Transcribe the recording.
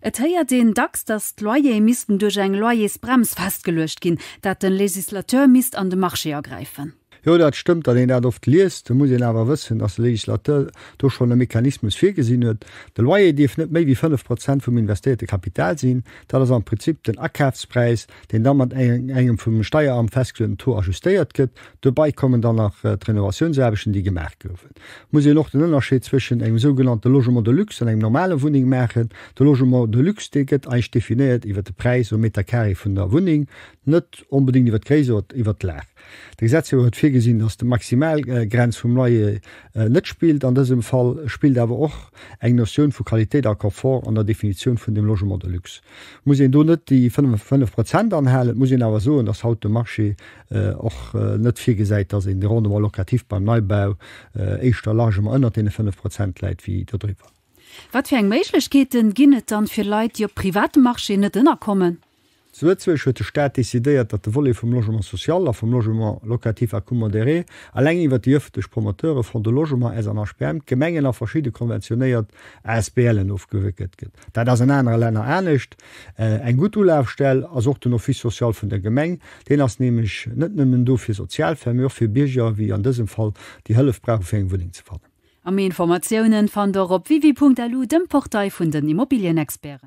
Et héiert een dacks, datt d'Loyere missten duerch eng Loyersbrems festgeluecht ginn, datt de Législateur misst an de Marché agräifen. Jo, dat stëmmt. Wann een dat oft liest, da muss een awer wëssen, datt de Législateur do schonn e Mechanismus virgesinn huet. De Loyer dierf net méi wéi 5 Prozent vum investéierte Kapital sinn. Dat ass am Prinzip den Akafspräis, deen da mat engem vum Steieramt festgeluechten Taux ajustéiert gëtt. Dobäi kommen dann nach d'Renovatiounsaarbechten, déi gemaach goufen. muss een och den Ënnerscheed zwëschen engem sougenannte Logement de luxe an engem normale Wunneng maachen. De Logement de luxe, dee gëtt eigentlech definéiert iwwert de Präis um Meter Carré vun der Wunneng, net onbedéngt iwwert d'Gréisst oder iwwert d'Lag. De Gesetzgeber huet virgesinn, datt de Maximalgrenz vum Loyer net spillt an dësem Fall, et spillt awer och eng Notioun vu Qualitéit a Confort an der Definitioun vun dem Logement de luxe. Muss een do net déi 5 Prozent anhalen? Et muss een awer soen, datt haut de Marché och net virgesäit, dass een de Rendement locatif beim Neibau éischter largement ënnert deene 5 Prozent läit wéi dodriwwer. Wat fir eng Méiglechkeete ginn et dann fir Leit, déi op privatem Marché net ënnerkommen? Zu Lëtzebuerg huet de Staat decidéiert, datt de Volet vum Logement social a vum Logement locatif à coût modéré eleng iwwert déi ëffentlech Promoteure, Fonds de logement, SN HPM, d'Gemengen a verschidde konventionéiert ASBLen ofgewéckelt gëtt. Dat ass an anere Länner anescht. Eng gutt Ulafstell ass och den Office social vun der Gemeng. Deen ass nämlech net nëmmen do fir Sozialfäll, mee och fir Bierger, wéi an dësem Fall, déi Hëllef brauchen, fir eng Wunneng ze fannen. A méi Informatiounen fannt der op www.lu, dem Portail vun den Immobilienexperten.